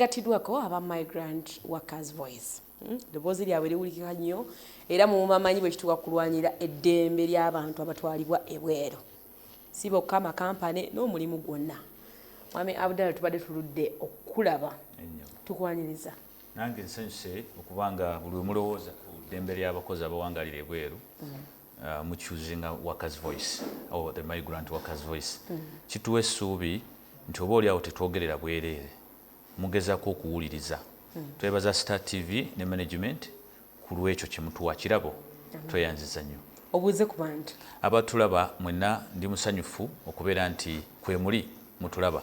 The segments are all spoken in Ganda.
Gatidwako aba Migrant Workers Voice. Hmm? Eddoboozi lyabwe liwulikika nnyo era mumamanyi bwe kituuka kulwanira eddembe ly'abantu abatwalibwa ebweru si bokka amakampane n'omulimu gwonna mwami abdala tubadde tuludde okukulaba tukwaniriza nange nsanyuse okuba nga buli wemulowooza ku ddembe ly'abakozi abawangalira ebweru hmm. uh, mucuzinga workers voice or the migrant workers voice hmm. kituwa essuubi nti oba oli awo tetwogerera bwereere mugezako okuwuliriza twebaza star TV ne management kulwekyo kyemutuwa kirabo tweyanziza nnyo. Obuuze ku bantu. Abatulaba mwenna ndi musanyufu okubeera nti kwemuli mutulaba.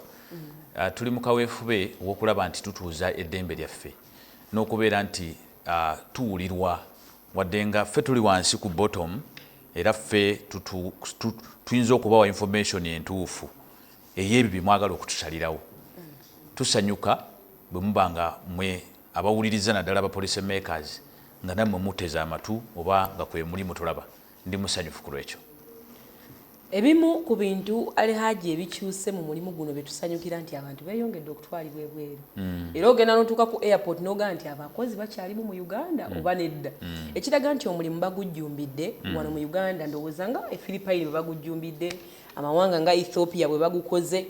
Ah, tuli mu kaweefube w'okulaba nti tutuuza eddembe lyaffe n'okubeera nti ah, tuwulirwa wadde nga ffe tuli wansi ku bottom era ffe tutu- tu- tuyinza okubawa information entuufu ey'ebyo bye mwagala okutusalirawo. Tusanyuka bwe muba nga mmwe abawuliriza naddala aba Policy Makers nga nammwe muteze amatu oba nga kwe muli mutulaba. Ndi musanyufu ku lw'ekyo. Ebimu ku bintu Ali Hajji ebikyuse mu mulimu guno bye tusanyukira nti abantu beeyongedde okutwalibwa ebweru mm. era ogenda n'otuuka ku airport n'ogamba nti abakozi bakyalimu mu Uganda mm. oba nedda mm. ekiraga nti omulimu bagujjumbidde mm. wano mu Uganda ndowooza nga e Philippine bwe bagujjumbidde amawanga nga ethiopia bwe bagukoze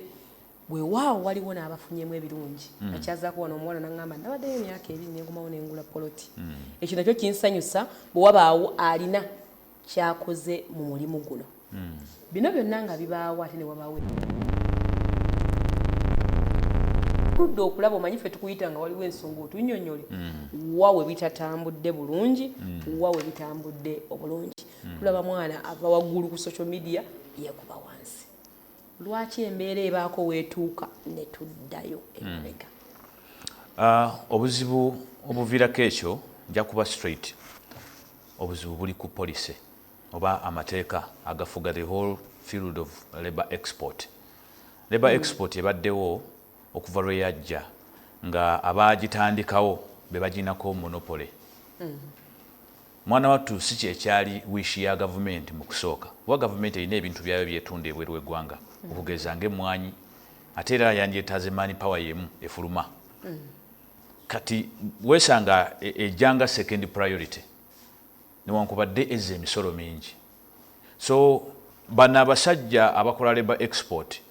wewaawo waliwo n'abafunyemu ebirungi mm. akyazaako wano omuwala naŋamba nabaddeyo emyaka ebiri nengumawo nengula poloti mm. ekyo nakyo kinsanyusa bwe wabaawo alina kyakoze mu mulimu guno mm. bino byonna nga bibaawo ate ne wabaawo tudde okulaba omanyi fe tukuyita nga waliwo ensonga otunyonyole mm. wa we bitatambudde bulungi mm. wa we bitambudde obulungi mm. tulaba mwana ava waggulu ku social media yekuba wansi lwaki embeera ebaako wetuuka netuddayo mm. emabega ah, obuzibu obuviirako ekyo nja kuba straight obuzibu buli ku policy oba amateeka agafuga the whole field of labor export labor mm. export ebaddewo okuva lwe yajja nga abagitandikawo be baginako monopole mm. Mwana wattu si kyekyaali wish ya gavumenti mu kusooka kuba gavumenti erina ebintu byaayo byetunda ebweru we gwanga okugeza nga emmwanyi ate era yandyetaaze man power yemu efuluma kati wesanga ejja nga second priority newankubadde ezza emisolo mingi. So bano abasajja abakola labour export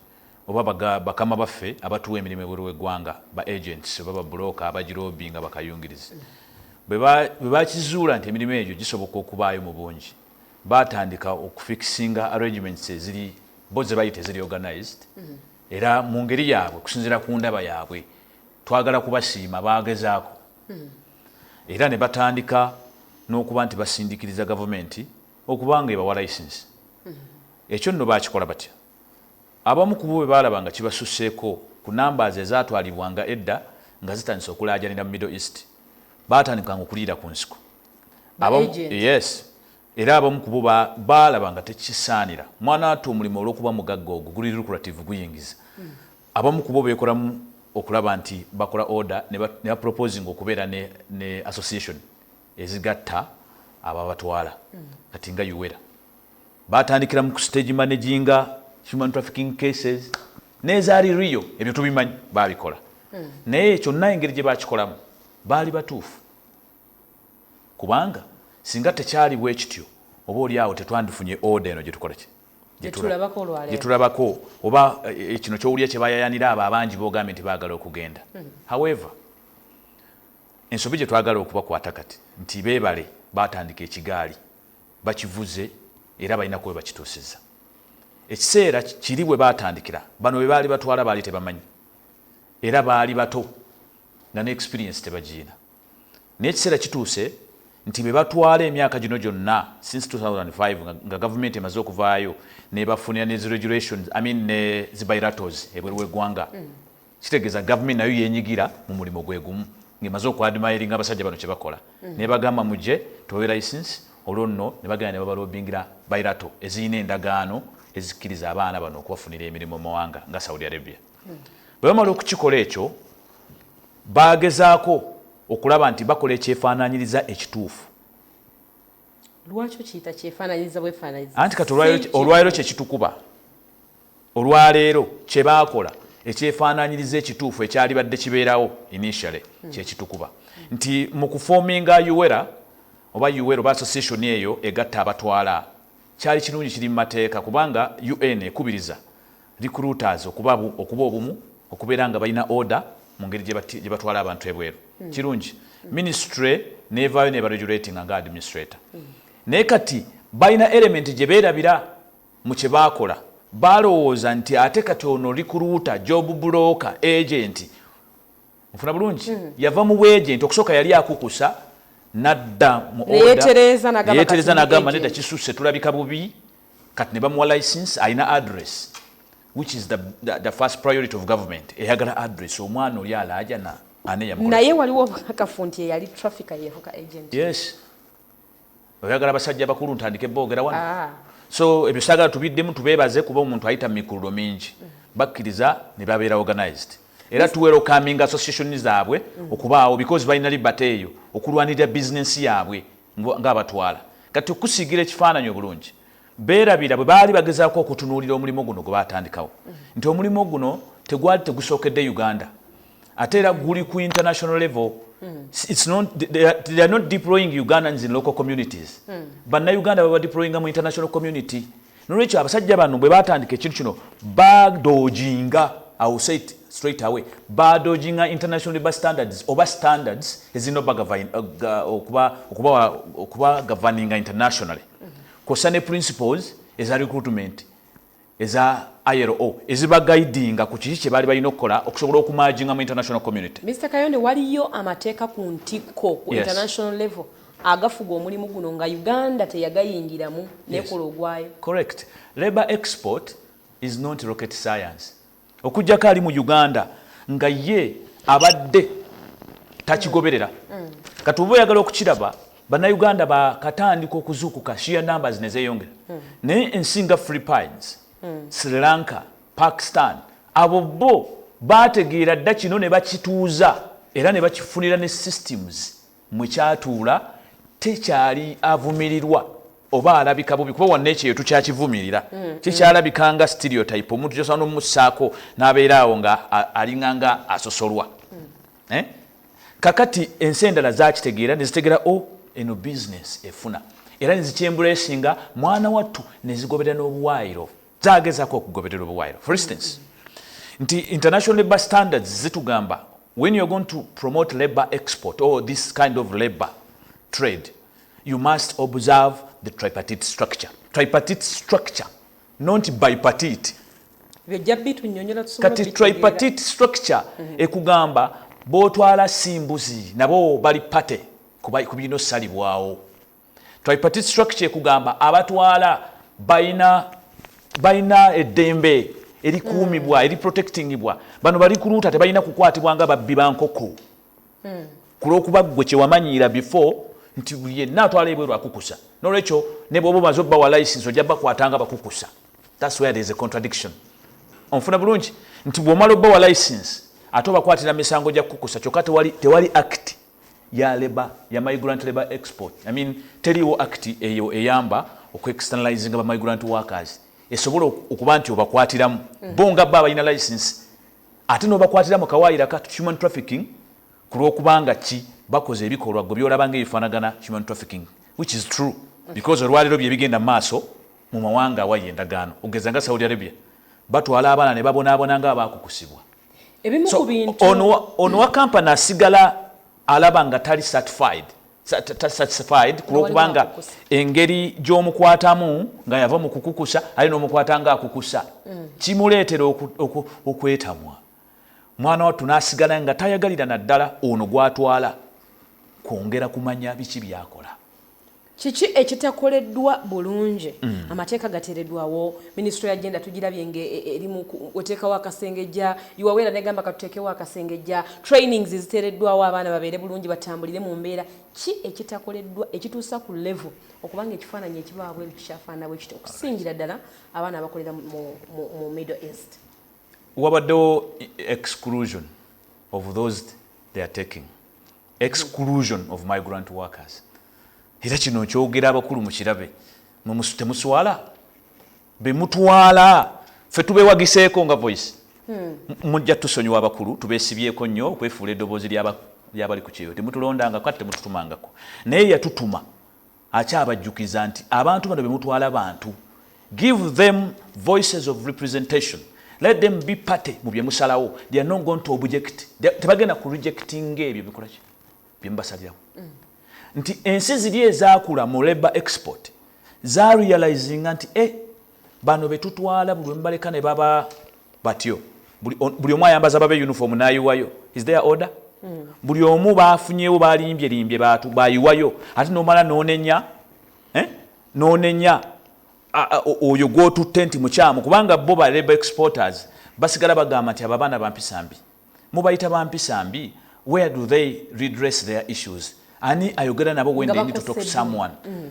oba baga bakama baffe abatuwa emirimu ebweru wegwanga ba agents oba ba broker abajilobinga bakayungirizi bweba bwebakizuula nti emirimu egyo gisoboka okubaayo mubungi batandika okufikisinga arrangements eziri bo zebayita eziri organized era mungeri yabwe okusinzira kundaba yabwe twagala kubasiima bagezaako era ne batandika n'okuba nti basindikiriza gavumenti okuba nga ebawa layisinsi. Ekyo nno baakikola batya? Abamu ku bo bwe baalaba nga kibasusseeko ku nambaazi ezaatwalibwanga edda nga zitandise okulaajanira mu Middle East, baatandikanga okuliira ku nsiko. Abamu, yes, era abamu ku bo ba, baalaba nga tekisaanira. Mwanaatu omulimo olw'okuba mugagga ogwo guli lucrative, guyingiza. Abamu kubo beekolamu okulaba nti bakola oda ne ba proposinga okubeera ne association ezigatta abo abatwala kati nga Uwera. Baatandikira mu ku stage managinga human trafficking cases n'ezaali real ebyo tubimanyi baabikola naye kyonna engeri gye baakikolamu baali batuufu kubanga singa tekyali bwe kityo oba oli awo tetwandifunye oda eno gye tukola ki? gyetulabako oba eh, eh, kino kyowulira kyebayayanira abo abangi bogambye nti bagala okugenda hmm. however ensobi gyetwagala okubakwata kati nti bebale batandika ekigaali bakivuze era balina kuba bakituusiza ekiseera kiri bwe batandikira bano bebaali batwala baali tebamanyi era baali bato nga ne experience tebagiina Naye ekiseera kituuse nti be batwala emyaka gino gyonna since 2005 nga, nga gavumenti emaze okuvaayo nebafunira ne zi regulations I mean ne zi bilatos ebweru w'eggwanga mm. kitegeeza gavumenti nayo yenyigira mu mulimu gwe gumu ng'emaze okuadmiringa abasajja bano kye bakola mm. nebagamba muje tubawe license olwo nno ne bagenda ne babalobingira bilato ezirina endagaano ezikkiriza abaana bano okubafunira emirimu mu mawanga nga saudi arabia mm. bwe bamala okukikola ekyo Baagezaako okulaba nti bakola ekyefaanaanyiriza ekituufu. Lwaki okiyita kyefaanaanyiriza bwefaanaanyiriza? Anti kati olwaleero kye kitukuba. Olwaleero kye baakola ekyefaanaanyiriza ekituufu ekyalibadde kibeerawo initially hmm. kye kitukuba. Nti mu kufoominga Uwera oba Uwera oba association eyo egatta abatwala kyali kirungi kiri mu mateeka kubanga UN ekubiriza recruiters okuba okuba obumu okubeera nga balina order mu ngeri gye batwala abantu ebweru hmm. kirungi hmm. ministry nevaayo nebaregulatinga nga administrator hmm. naye kati balina element gye beerabira mu kye baakola balowooza nti ate kati ono recruiter job broker agenti mufuna bulungi mm. yava mu bwejenti okusooka yali akukusa nadda muyetereza nagamba nedda kisusse tulabika bubi kati ne bamuwa license alina address which is the, the, the first priority of government eyagala address omwana oli alaajana naye waliwo obukakafu nti eyali traffic yefuka agent yes oyagala basajja bakulu ntandike boogera wano ah. so ebyo sagala tubiddemu tubeebaze kuba omuntu ayita mumikululo mingi mm. bakkiriza ne babeera organized era tuwero coming association zaabwe mm. okubaawo because balina libata eyo okulwanirira bizinensi yaabwe ngaabatwala kati okusiigira ekifaananyi obulungi beerabira bwe baali bagezaako okutunuulira omulimu guno gwe baatandikawo mm. nti omulimu guno tegwali tegusookedde uganda ate era guli ku international level hmm. it's not they are, they are not deploying ugandans in local communities hmm. bannayuganda baba deployinga mu international community nolwekyo abasajja bano bwe batandika ekintu kino badojinga awsait straight away badojinga international labor standards oba standards ezirina uh, okuba governinga internationally hmm. kwossa ne principles eza recruitment eza ILO eziba guidinga ku kiki kye baali balina okukola okusobola okumaajinga mu international community. Mister Kayonde waliyo amateeka ku ntikko ku international level agafuga omulimu guno nga Uganda teyagayingiramu nekola ogwayo. Correct. Labour export is not rocket science. okujjako ali mu uganda nga ye abadde takigoberera mm. kati oba oyagala okukiraba bannayuganda bakatandika okuzuukuka shia numbers nezeyongera mm. naye ensi nga philippines mm. sri lanka pakistan abo bo bategeera dda kino ne bakituuza era ne bakifunira ne systems mwe kyatuula tekyali avumirirwa oba alabika bubi kuba wanna ekyeyo tukyakivumirira mm, mm. kikyalabika nga stereotype omuntu kyosobola nomumussaako n'abeera awo nga alinga nga asosolwa mm. eh? kakati ensi endala zakitegeera nezitegera o oh, eno bizinesi efuna era nezikyembulaesinga mwana wattu nezigoberera n'obuwaayiro zagezako okugoberera obuwaayiro for instance nti international labour standards zitugamba when you're going to promote labour export or this kind of labour trade you must observe the tripartite structure tripartite structure not bipartite kati tripartite structure mm-hmm. ekugamba botwala simbuzi nabo bali party kuba kubino salibwawo tripartite structure ekugamba abatwala balina balina eddembe erikuumibwa mm. eriprotectingibwa bano balikuluuta tebalina kukwatibwa nga babbi ba nkoko mm. ku lwokuba ggwe kyewamanyiira before nti yenna atwala ebweru akukusa nolwekyo ne bwoba omaze obbawa license ojja bakwatanga bakukusa thats where there is a contradiction onfuna bulungi nti bwomala obbawa license ate obakwatira misango gya kukusa kyokka tewali, tewali act ya labour ya migrant labour export i mean teliwo act eyo eyamba oku externalizing ba migrant workers esobola okuba nti obakwatiramu mm. bo nga baba ina license ate no bakwatira mu kawaayira ka human trafficking kulwokubanga ki bakoze ebikolwa gwe byolaba nga ebifanagana human trafficking which is true because olwaliro bye bigenda maaso mu mawanga awayi endagaano ogeza nga saudi arabia batwala abaana ne babonaabona nga abakukusibwa ebimu ku bintu ono wa kampani asigala alaba nga tali certified satisfied kulwokubanga engeri gyomukwatamu nga yava mu kukukusa ali nomukwata nga akukusa mm. kimuleetera okwetamwa mwana wattu nasigala nga tayagalira naddala ono gwatwala kwongera kumanya biki byakola Kiki ekitakoleddwa bulungi? Mm. Amateeka gateeredwawo, minisitule ya genda tugirabye nga e, e, eri mu oteekawo akasengejja, yuwaweera negamba katuteekewo akasengejja, trainings ziteereddwawo abaana babeere bulungi batambulire mu mbeera. Ki ekitakoleddwa ekituusa ku level okuba nga ekifaananyi ekibaawo bweru kikyafaanana bwe kityo okusingira ddala abaana abakolera mu Middle East? Wabaddewo exclusion of those they are taking exclusion of migrant workers era kino nkyogera abakulu mukirabe temuswala bemutwala fe tubewagiseeko nga voice hmm. mujja tusonyiwa abakulu tubesibyeko nnyo okwefuula edoboozi lyabali ku kyeyo temutulondangako ate temututumangako naye yatutuma Akyabajjukiza nti abantu bano bemutwala bantu, give them voices of representation let them be party mu byemusalawo they are not going to object tebagenda ku rejectinga ebyo bikolaki byemubasalirawo mm. nti ensi ziri ezakula mu labor export za realizinga nti eh, bano betutwala buli wemubaleka ne baba batyo buli omu ayambaza babe uniform nayiwayo is there order mm. buli omu bafunyewo balimbye limbye batu bayiwayo ate nomala nonenya eh? nonenya oyo gwotutte nti mukyamu kubanga bo ba labor exporters basigala bagamba nti abo abaana bampisa mbi mubayita bampisa mbi where do they redress their issues ani ayogera nabo when they need to talk to someone mm.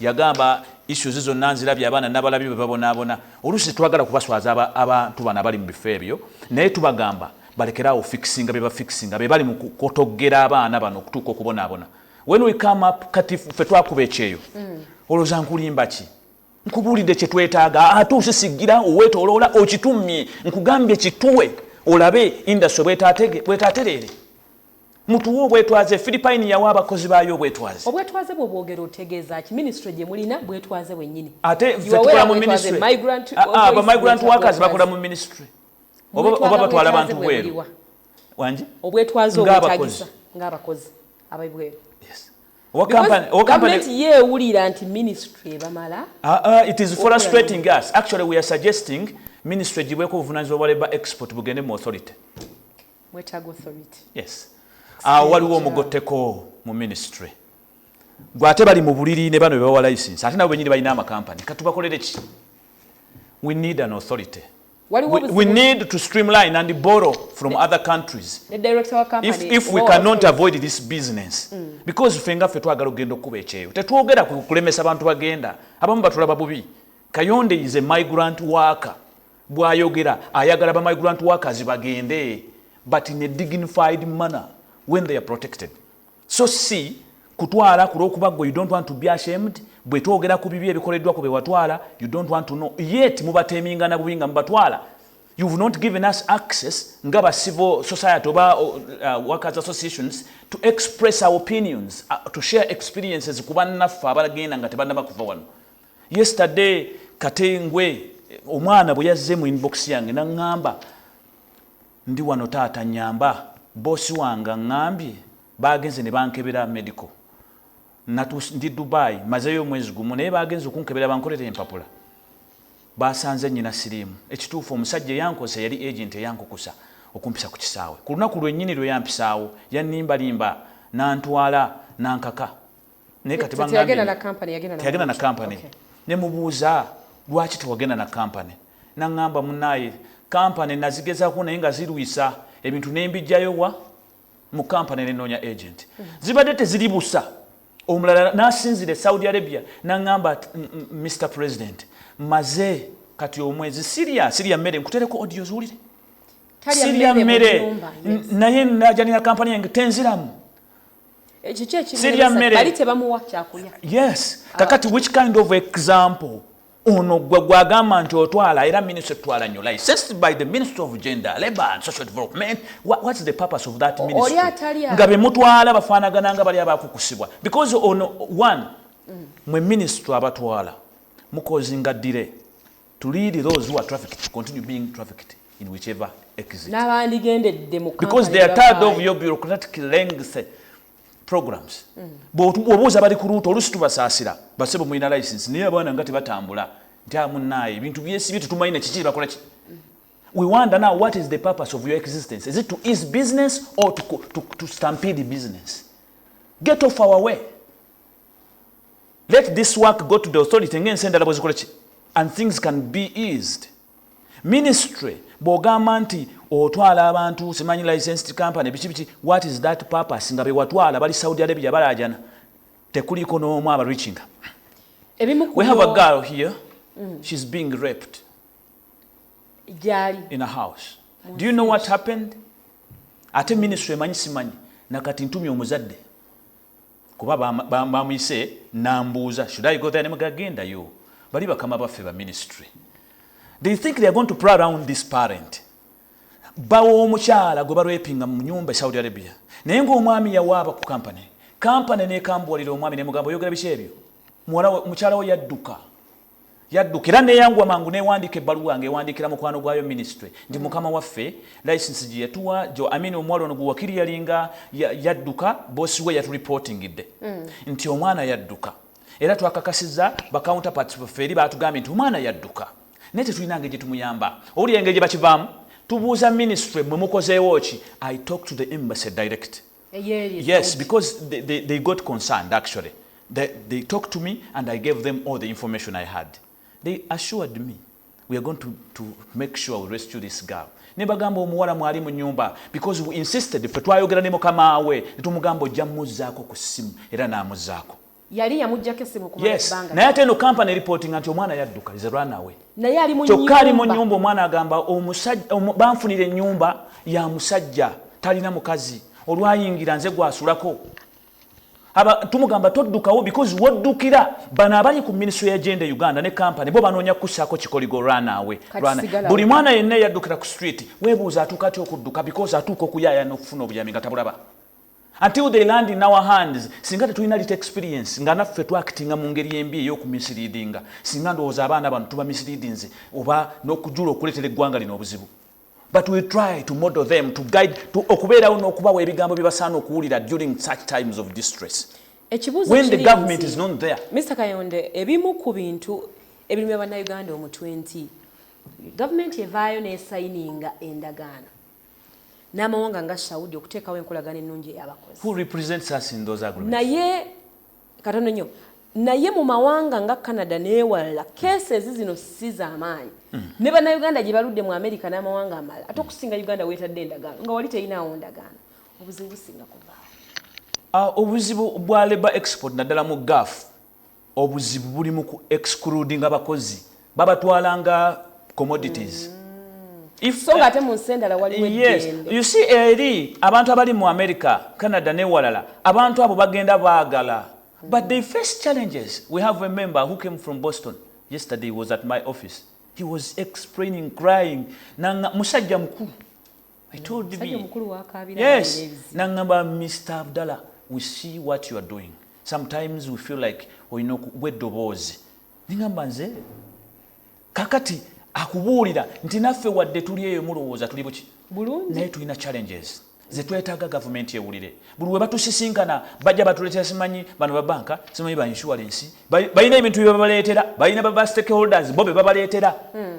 Yagamba, Issues zonna nzirabye, abaana nabalabye bwe babonaabona. Oluusi tetwagala kubaswaza aba, abantu bano abali mu bifo ebyo, naye tubagamba balekere awo ofikisinga bye bafikisinga. Be bali mu kukotoggera abaana bano okutuuka okubonaabona. When we come up, kati ffe twakuba ekyeyo. Mm. Olowooza nkulimba ki? Nkubuulidde kye twetaaga, ate osisigira, oweetooloola, okitummye. Nkugambye kituwe olabe industry bwetaatereere. Mutuwe obwetwaze. Philippine yawa abakozi baayo obwetwaze. Obwetwaze bwo bwogera otegeeza ki? Ministry gye mulina bwetwaze bwennyini. Ate fe tukola mu ministry. Ah, ah, ba migrant workers bakola mu ministry. Oba oba batwala abantu bweru. Wanji? Obwetwaze obwetagisa ng'abakozi abaibweru. Yes. Owa company, owa company. Government ye ewulira nti ministry ebamala. Ah, ah, it is frustrating us. Actually we are suggesting ministry gibweko obuvunaanyizibwa bwa labour export bugende mu authority. awo ah, waliwo omugotteko mu ministry gwe ate bali mu buliri ne bano bebawa license ate nabo benyini balina amakampani katubakolere ki we need an authority We, we need to streamline and borrow from the, other countries the director of company, if, if we cannot avoid this business mm. because ffe nga ffe twagala okugenda okukuba ekyeyo tetwogera kulemesa bantu bagenda abamu batulaba bubi kayonde is a migrant worker Bwayogera ayagala ba migrant workers bagende but in a dignified manner when they are protected so si kutwala kulwokuba gwe you don't want to be ashamed bwetwogera ku bibi ebikoleddwa ku bewatwala you don't want to know yet mubatemingana bubi nga mubatwala you've not given us access nga ba civil society oba uh, uh workers associations to express our opinions uh, to share experiences ku bannaffe abalagenda nga tebannaba kuva wano yesterday katengwe omwana bwe yazze mu inbox yange naŋŋamba ndi wano taata nyamba boosi wange aŋŋambye baagenze ne bankebera medical ndi dubai mazeyo omwezi gumu naye baagenze okunkebera bankolera empapula baasanze nnyina siriimu ekituufu omusajja eyankosa yali agenti eyankukusa okumpisa ku kisaawe ku lunaku lwennyini lwe yampisaawo yannimbalimba nantwala nankaka naye kati teyagenda na kampani yagenda na kampani ne mubuuza lwaki tewagenda na kampani nangamba munaye kampani nazigezako naye nga zirwisa ebintu nembijjayo wa mu kampani nenoonya agent mm. zibadde teziri busa omulala nasinzira e saudi arabia nangamba mr president maze kati omwezi siria siria mmere nkutereko odio ziwulire siria mmere naye najanira kampani yange tenziramu sirya mmere yes kakati which kind of example ono gwe gwagamba nti otwala era ministry twala nyo licensed by the ministry of gender labor and social development what, what's the purpose of that ministry nga bemutwala bafanagana nga bali abakukusibwa because ono one mm. mwe ministry abatwala mukozinga dire to lead those who are trafficked to continue being trafficked in whichever exit. N'abandigendedde mu Because they are tired of your bureaucratic length programs. Mm. Bw'obuuza bali ku luuto olusi tubasaasira basebo mulina license naye abaana nga tebatambula nti amunaaye ebintu byesibye tetumanyi na kiki bakola ki. Mm. We wonder now what is the purpose of your existence? Is it to ease business or to, to, to stampede business? Get off our way. Let this work go to the authority nga ensi endala bwezikola ki and things can be eased. Ministry bwogamba nti otwala abantu simanyi licensed company biki biki what is that purpose nga bewatwala bali Saudi Arabia balajana tekuliko n'omu aba reaching. We have a girl here mm. she's being raped Jali. in a house. Mwansi. Do you know what happened? Ate ministry emanyi simanyi nakati ntumye omuzadde Kuba bamuyise nambuuza should I go there nemuga gendayo bali bakama baffe ba ministry they think they are going to pray around this parent bawo omukyala gwe barwepinga mu nyumba e Saudi Arabia naye ng'omwami yawaaba ku kampani kampani nekambuwalira omwami nemugamba oyogera biki ebyo mukyala wo yadduka Yadduka era neyanguwa mangu newandiika ebbaluwa nga ewandiikira mukwano gwayo minisitule nti mm. mukama waffe layisinsi gye yatuwa jo amini omuwala ono gwewakiri yalinga yadduka boosi we yaturipotingidde mm. nti omwana yadduka era twakakasiza bakawunta pati baffe eri baatugambye nti omwana yadduka naye tetulina ngeri gye tumuyamba owulira engeri gye bakivaamu tubuuza minisitule mwe mukozeewo ki i talk to the embassy direct mm. Yes, because they, they, they got concerned actually. They, they talked to me and I gave them all the information I had. They assured me we are going to, to make sure we rescue this girl. Ne bagamba omuwala mwali mu nyumba because we insisted ffe twayogera ne mukama we ne tumugamba ojja muzzaako ku ssimu era n'amuzzaako. yali yamujjako essimu okumala ebbanga naye ate eno kampani eripootinga nti omwana yadduka is runaway naye ali mu kyokka ali mu nyumba omwana agamba banfunira ennyumba ya musajja talina mukazi olwayingira nze gwasulako tumugamba toddukawo because woddukira bano abali ku minisitry ya genda e uganda ne kampani bo banoonya kukusaako kikoligo rwanaawe buli mwana yenna eyaddukira ku street webuuza atuuka atya okudduka because atuuka okuyayana okufuna obuyami nga tabulaba until they land in our hands singa tetulina lit experience nga naffe twakitinga mu ngeri embi ey'okumisiriidinga singa ndowooza abaana bano tuba misiriidinze oba n'okujula okuleetera eggwanga lino obuzibu but we try to model them to guide to okubeerawo n'okubawa ebigambo bye basaana okuwulira during such times of distress ekibuuzo when the government is not there mr kayonde ebimu ku bintu ebirimu ya bannayuganda omutwe nti gavumenti evaayo n'esayininga endagaano n'amawanga nga Saudi okuteekawo enkolagana ennungi ey'abakozi. Who represents us in those agreements? Naye katono nnyo naye mu mawanga nga Canada n'ewalala cases zino si z'amaanyi hmm. ne bannayuganda gye baludde mu Amerika n'amawanga amalala ate okusinga Uganda weetadde endagaano nga wali teyinaawo ndagaano obuzibu businga kuvaawo ah, obuzibu bwa labour export naddala mu gaafu Obuzibu buli mu ku excludinga bakozi. Babatwala nga commodities. Mm. If, so nga ate mu nsi endala waliwo yes, you see eri abantu abali mu america canada newalala abantu abo bagenda baagala but they face challenges we have a member who came from boston yesterday was at my office he was explaining crying nanga musajja mukulu I told me. Yes. Nangamba Mr. Abdallah, we see what you are doing. Sometimes we feel like we know we dobozi. Ningamba nze kakati akubuulira nti naffe wadde tuli eyo mulowooza tuli buki naye tulina challenges zetwetaaga gavumenti ewulire buli we batusisinkana bajja batuleetera simanyi bano babanka simanyi ba insurance balina ebintu byebabaleetera balina baba stakeholders bo bebabaleetera hmm.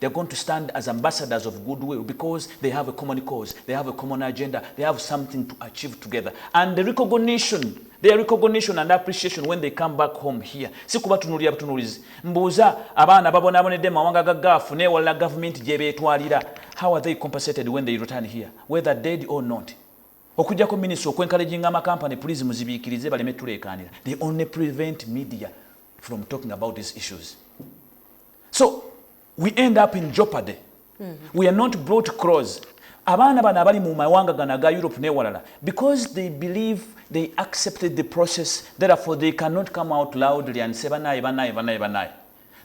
They're going to stand as ambassadors of goodwill because they have a common cause, they have a common agenda, they have something to achieve together. And the recognition, their recognition and appreciation when they come back home here. Si kubatunulira butunulizi. Mbuuza abaana babonaabonedde mu mawanga ga gaafu n'ewalala gavumenti gye beetwalira. How are they compensated when they return here, whether dead or not? okujjako minisita okwenkalejinga amakampani pulizi muzibiikirize baleme tuleekaanira they only prevent media from talking about these issues so we end up in jeopardy mm -hmm. we are not brought close abaana bano abali mu mawanga gano aga europe newalala because they believe they accepted the process therefore they cannot come out loudly and say banaye banaye banaye banaye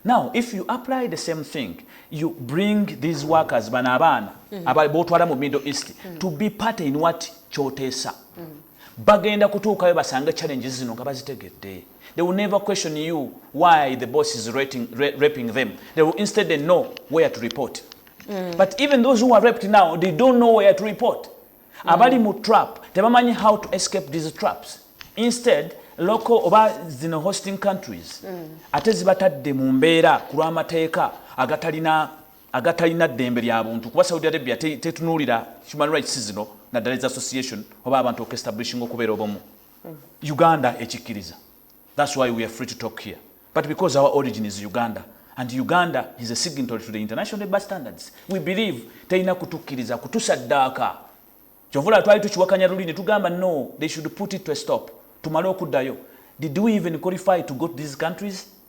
now if you apply the same thing you bring these workers bano abaana mm -hmm. aba botwala mu middle east mm -hmm. to be part in what kyoteesa mm -hmm. bagenda kutuukayo basange challenges zino nga bazitegedde They will never question you why the boss is rating, ra raping them. They will instead they know where to report. Mm. But even those who are raped now, they don't know where to report. Mm. Abali mu trap, tebamanyi how to escape these traps. Instead, local oba zino hosting countries mm. ate zibatadde mu mbeera ku lw'amateeka agatalina agatalina ddembe lya buntu kuba saudi arabia tetunuulira human rights zino naddala eza association oba abantu okuestablishinga okubeera obumu uganda ekikkiriza thats why weare free to talk here but because our origin is uganda and uganda is a signatory to the international labour standards we believe terina kutukkiriza kutusaddaaka kyovula twali tukiwakanya luli ne tugamba no they should put it to a stop tumale okuddayo did we even qualify to go to these countries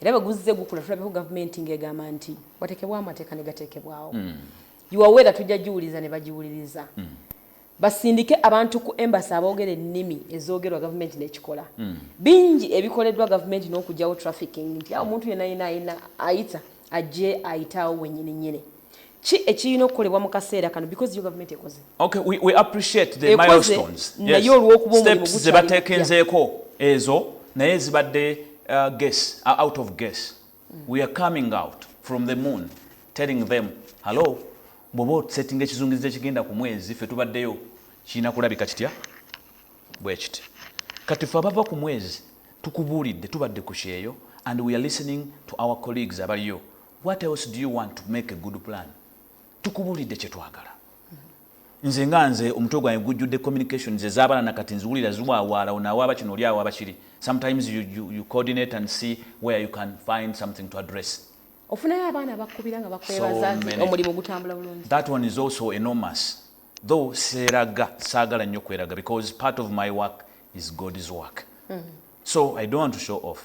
era bwe guzze gukula tulabeko gavumenti ng'egamba nti wateekebwa amateeka ne gateekebwawo hmm. yuwaweera tujja giwuliza ne bagiwuliriza hmm. basindike abantu ku embasi aboogera ennimi ezoogerwa gavumenti n'ekikola hmm. bingi ebikoleddwa gavumenti n'okugyawo trafficking nti awo omuntu yenna yenna ayina ayita ajje ayitaawo wenyini nyini ki ekirina okukolebwa mu kaseera kano because yo gavumenti ekoze okay, we, we appreciate the milestones naye olwokuba omulimu zebatekenzeeko ezo naye zibadde uh, guess, uh, out of guess mm. we are coming out from the moon telling them hallo bwoba osettinga ekizungiriza ekigenda ku mwezi fe tubaddeyo kirina kulabika kitya bwekiti kati fe abava ku mwezi tukubuulidde tubadde ku kyeyo and we are listening to our colleagues abaliyo What else do you want to make a good plan? Tukubulidde kyetwagala. Nze nga nze omutwe gwange gujjudde communications ezabana na kati nziwulira ziwawaala ono awaaba kino oli awaaba kiri. Sometimes you, you, you coordinate and see where you can find something to address. Ofunayo abaana bakubira nga bakwebaza nti omulimu gutambula bulungi. That one is also enormous. Though seeraga saagala nnyo kweraga because part of my work is God's work. Mm -hmm. So I don't want to show off.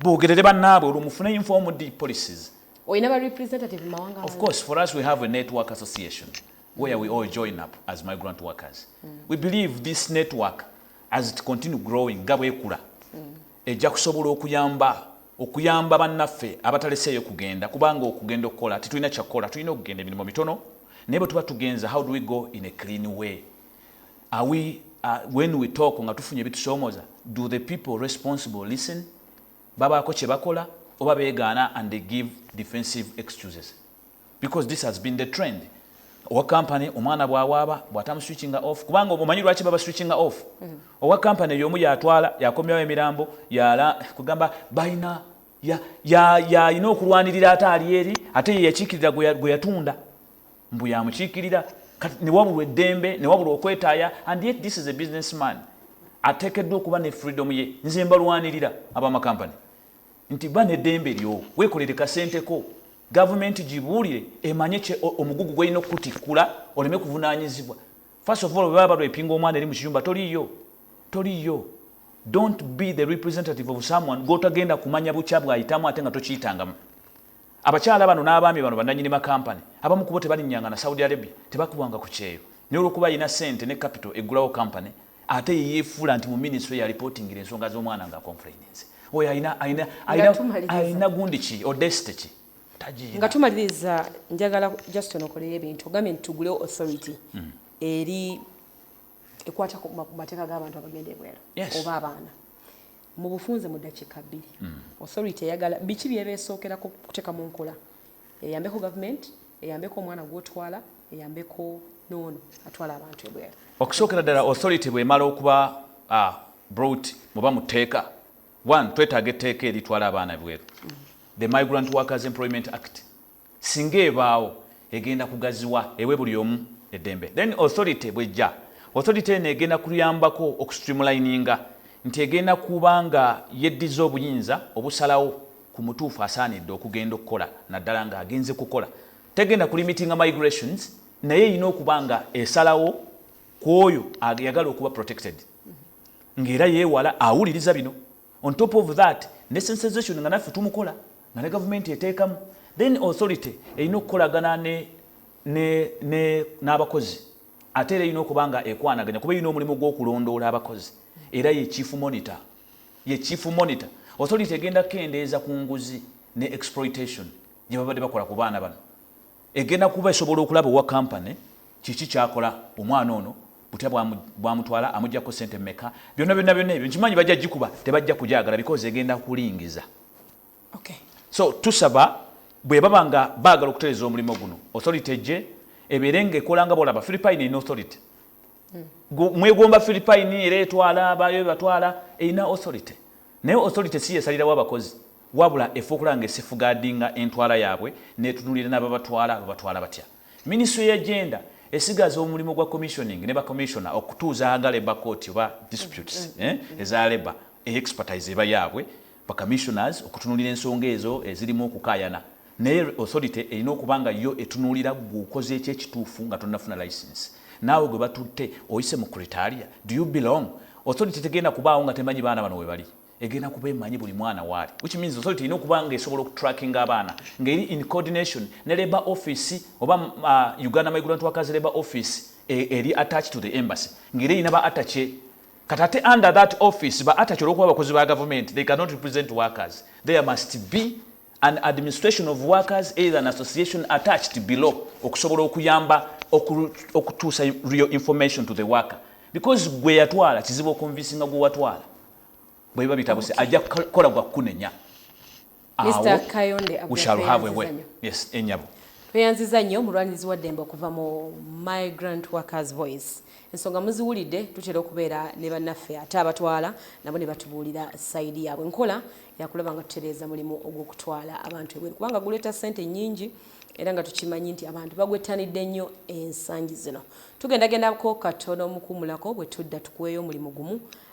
bogerere bannaabwe olwo mufune informed policies olina ba representative mawanga of course for us we have a network association where we all join up as migrant workers mm. we believe this network as it continue growing nga bwekula mm. ejja kusobola okuyamba okuyamba bannaffe abataleseeyo kugenda kubanga okugenda okukola tetulina kyakukola tulina okugenda emirimu mitono naye bwe tuba tugenza how do we go in a clean way Are we, uh, when we talk nga tufunye bitusomoza, do the people responsible listen? Babaako kye bakola oba begaana and they give defensive excuses because this has been the trend owa company omwana bwawaaba bwatamu switching off kubanga omanyi lwaki baba switching off mm -hmm. owa company yomu yatwala yakomyawo emirambo yala kugamba balina yalina ya, ya, okulwanirira ate ali eri ate yeyakikirira gwe yatunda mbu yamukiikirira kati newabulwa eddembe newabulwa okwetaaya and yet this is a business man ateekeddwa okuba ne freedom ye nze mbalwanirira abamakampani nti ba neddembe lyo weekolere kasenteko gavumenti gibuulire emanye kye omugugu gwelina okukutikkula oleme kuvunaanyizibwa first of all bwe baba balwepinga omwana eri mu kiyumba toliyo toliyo don't be the representative of someone gwotagenda kumanya bukya bwayitamu ate nga tokiyitanga Abakyala bano n'abaami bano bannanyini ma kampani, abamu kubo tebalinnyanga na Saudi Arabia, tebakubwanga ku kyeyo, naye olw'okuba alina ssente ne kapito eggulawo kampani, ate ye yeefuula nti mu minisitule y'alipootingira ensonga z'omwana ng'akonfulayininze. Oyo alina, alina, alina, alina gundi ki, odesite ki? Nga tumaliriza, njagala just onokoleyo ebintu, ogambye nti tugulewo authority mm. eri ekwata ku mateeka g'abantu abagenda ebweru oba abaana Mu bufunze mu ddakiika bbiri, Authority eyagala biki by'eba esookerako okuteeka mu nkola eyambeko gavumenti, eyambeko omwana gw'otwala, eyambeko n'ono atwala abantu ebweru. Okusookera ddala Authority bw'emala okuba brought oba mu tteeka, one, twetaaga etteeka eritwala abaana ebweru, The Migrant Workers Employment Act, Singa ebaawo, egenda kugaziwa ewe buli omu eddembe. Then authority bwejja, authority eno egenda kuyambako oku streamlininga nti egenda kuba nga yeddiza obuyinza obusalawo ku mutuufu asaanidde okugenda okukola naddala nga agenze kukola. Tegenda ku limitinga migrations naye erina okuba nga esalawo ku oyo ayagala okuba protected nga era yewala awuliriza bino. on top of that ne sensization nga naffe tumukola nga ne gavumenti eteekamu then authority erina okukolagana n'abakozi ate era erina okuba nga ekwanaganya kuba erina omulimu gw'okulondoola abakozi era ye chief monitor ye chief monitor authority egenda kukendeeza ku nguzi ne exploitation gye babadde bakola ku baana bano Egenda kuba esobola okulaba owa company kiki kyakola omwana ono butya bwamutwala amujjako ssente meka byonna byonna byonna ebyo nkimanyi bajja gikuba tebajja kugyagala because egenda kulingiza okay. so tusaba bwebaba nga baagala okutereza omulimu guno authority ejje ebeere nga ekola nga bolaba philipine erina authority hmm. mwegomba philipine era etwala abayo ebatwala erina authority naye authority si yesalirawo abakozi Wabula efuukula nga esifugaadinga entwala yaabwe n'etunuulira n'ababatwala babatwala batya. Minisitule ya Gender esigaza omulimu gwa Commissioning ne ba Commissioner okutuuza nga Labour Court oba Disputes eza Labour eyo expertise eba yaabwe ba Commissioners okutunuulira ensonga ezo ezirimu okukaayana naye Authority erina okuba nga yo etunuulira ggwe okoze ki ekituufu nga tonnafuna licence naawe gwe batutte oyise mu Cretaria? Do you belong? Authority tegenda kubaawo nga temanyi baana bano webali. egenda kuba emanyi buli mwana waali which means authority erina okuba nga esobola okutrackinga abaana ngeri in coordination ne labour office oba uh, uganda migrant workers labour office e, eri attached to the embassy ngeri erina ba atache kati ate under that office ba atache olwokuba abakozi ba gavumenti they cannot represent workers there must be an administration of workers either an association attached below okusobola okuyamba okutuusa real information to the worker because gwe yatwala kizibu okonvisinga gwe watwala bweba bitabuse okay. ajja kola gwa kunenya Mr. Kayonde we shall have a way yes enyabo tweyanziza nnyo mulwanirizi wa ddembe okuva mu my grand workers voice ensonga muziwulidde tutera okubeera ne bannaffe ate abatwala nabo ne batubuulira sayidi yaabwe nkola yakulaba nga tutereeza mulimu ogw'okutwala abantu ebweru kubanga guleeta ssente nnyingi era nga tukimanyi nti abantu bagwettanidde nnyo ensangi zino tugendagendako katono omukuumulako bwe tudda tukuweeyo omulimu gumu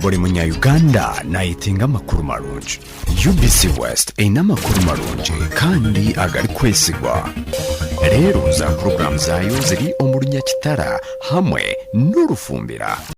buli munyayuganda nayitinga amakulu malungi ubc west erina amakulu malungi kandi agali kwesigwa leero za pulogulaamu zaayo ziri omulunya kitara hamwe n'olufumbira